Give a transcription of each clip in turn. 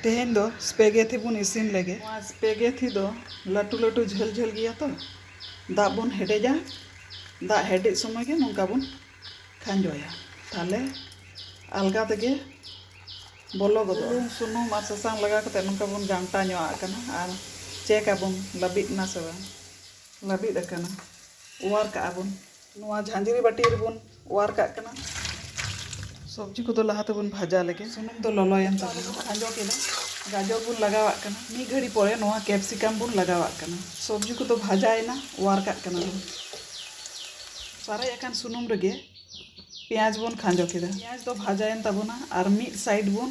ᱛᱮᱦᱮᱧ ᱫᱚ ᱥᱯᱮᱜᱮᱛᱷᱤ ᱵᱚᱱ ᱤᱥᱤᱱ ᱞᱮᱜᱮ᱾ ᱱᱚᱣᱟ ᱥᱯᱮᱜᱮᱛᱷᱤ ᱫᱚ ᱞᱟᱹᱴᱩ ᱞᱟᱹᱴᱩ ᱡᱷᱟᱹᱞ ᱡᱷᱟᱹᱞ ᱜᱮᱭᱟ ᱛᱚ ᱫᱟᱜ ᱵᱚᱱ ᱦᱮᱰᱮᱡᱟ᱾ ᱫᱟᱜ ᱦᱮᱰᱮᱡ ᱥᱚᱢᱚᱭ ᱜᱮ ᱱᱚᱝᱠᱟ ᱵᱚᱱ ᱠᱷᱟᱸᱡᱚᱭᱟ ᱛᱟᱦᱞᱮ ᱟᱞᱜᱟ ᱛᱮᱜᱮ ᱵᱚᱞᱚ ᱜᱚᱫᱚᱜᱼᱟ᱾ ᱵᱩᱞᱩᱝ ᱥᱩᱱᱩᱢ ᱟᱨ ᱥᱟᱥᱟᱝ ᱞᱟᱜᱟᱣ ᱠᱟᱛᱮ ᱱᱚᱝᱠᱟ ᱵᱚᱱ ᱜᱷᱟᱱᱴᱟ ᱧᱚᱜ ᱟᱜ ᱠᱟᱱᱟ ᱟᱨ ᱪᱮᱠ ᱟᱵᱚᱱ ᱞᱟᱹᱵᱤᱫ ᱮᱱᱟ ᱥᱮ ᱵᱟᱝ᱾ ᱞᱟᱹᱵᱤᱫ ᱟᱠᱟᱱᱟ᱾ ᱚᱣᱟᱨ ᱠᱟᱜᱼᱟ ᱵᱚᱱ᱾ ᱱᱚᱣᱟ ᱡᱷᱟᱸᱡᱽᱨᱤ ᱵᱟᱹᱴᱤ ᱨᱮᱵᱚᱱ ᱚᱣᱟᱨ ᱠᱟᱜ ᱠᱟᱱᱟ ᱥᱚᱵᱽᱡᱤ ᱠᱚᱫᱚ ᱞᱟᱦᱟ ᱛᱮᱵᱚᱱ ᱵᱷᱟᱡᱟ ᱞᱮᱜᱮ ᱥᱩᱱᱩᱢ ᱫᱚ ᱞᱚᱞᱚᱭᱮᱱ ᱛᱟᱵᱚᱱᱟ ᱠᱷᱟᱸᱡᱚ ᱠᱮᱫᱟ ᱜᱟᱡᱚᱨ ᱵᱚᱱ ᱞᱟᱜᱟᱣᱟᱜ ᱠᱟᱱᱟ ᱢᱤᱫ ᱜᱷᱟᱹᱲᱤ ᱯᱚᱨᱮ ᱱᱚᱣᱟ ᱠᱮᱯᱥᱤᱠᱟᱢ ᱵᱚᱱ ᱞᱟᱜᱟᱣᱟᱜ ᱠᱟᱱᱟ ᱥᱚᱵᱽᱡᱤ ᱠᱚᱫᱚ ᱵᱷᱟᱡᱟᱭᱮᱱᱟ ᱚᱣᱟᱨ ᱠᱟᱜ ᱠᱟᱱᱟ ᱵᱚᱱ ᱥᱟᱨᱮᱡ ᱟᱠᱟᱱ ᱥᱩᱱᱩᱢ ᱨᱮᱜᱮ ᱯᱮᱸᱭᱟᱡᱽ ᱵᱚᱱ ᱠᱷᱟᱸᱡᱚ ᱠᱮᱫᱟ ᱯᱮᱸᱭᱟᱡᱽ ᱫᱚ ᱵᱷᱟᱡᱟᱭᱮᱱ ᱛᱟᱵᱚᱱᱟ ᱟᱨ ᱢᱤᱫ ᱥᱟᱭᱤᱰ ᱵᱚᱱ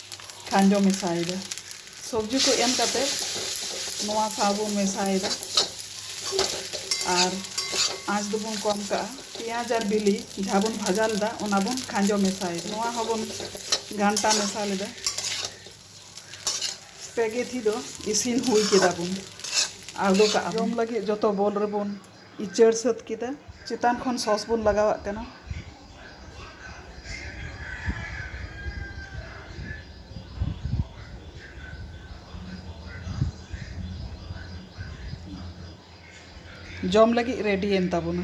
ᱠᱷᱟᱸᱡᱚ ᱢᱮᱥᱟᱭᱮᱫᱟ ᱥᱚᱵᱽᱡᱤ ᱠᱚ ᱮᱢ ᱠᱟᱛᱮ ᱱᱚᱣᱟ ᱥᱟᱶ ᱵᱚᱱ ᱢᱮᱥᱟᱭᱮᱫᱟ ᱟᱨ ᱟᱸᱪ ᱫᱚᱵᱚᱱ ᱠᱚᱢ ᱠᱟᱜᱼᱟ ᱯᱮᱸᱭᱟᱡᱽ ᱟᱨ ᱵᱤᱞᱤ ᱡᱟᱦᱟᱸ ᱵᱚᱱ ᱵᱷᱟᱡᱟ ᱞᱮᱫᱟ ᱚᱱᱟ ᱵᱚᱱ ᱠᱷᱟᱸᱡᱚ ᱢᱮᱥᱟᱭᱮᱫᱟ ᱱᱚᱣᱟ ᱦᱚᱸᱵᱚᱱ ᱜᱷᱟᱱᱴᱟ ᱢᱮᱥᱟ ᱞᱮᱫᱟ ᱯᱮᱜᱮᱛᱷᱤ ᱫᱚ ᱤᱥᱤᱱ ᱦᱩᱭ ᱠᱮᱫᱟ ᱵᱚᱱ ᱟᱬᱜᱚ ᱠᱟᱜᱼᱟ ᱡᱚᱢ ᱞᱟᱹᱜᱤᱫ ᱡᱚᱛᱚ ᱵᱚᱞ ᱨᱮᱵᱚᱱ ᱤᱪᱟᱹᱲ ᱥᱟᱹᱛ ᱠᱮᱫᱟ᱾ ᱪᱮᱛᱟᱱ ᱠᱷᱚᱱ ᱥᱚᱥ ᱵᱚᱱ ᱞᱟᱜᱟᱣᱟᱜ ᱠᱟᱱᱟ᱾ ᱡᱚᱢ ᱞᱟᱹᱜᱤᱫ ᱨᱮᱰᱤᱭᱮᱱ ᱛᱟᱵᱚᱱᱟ᱾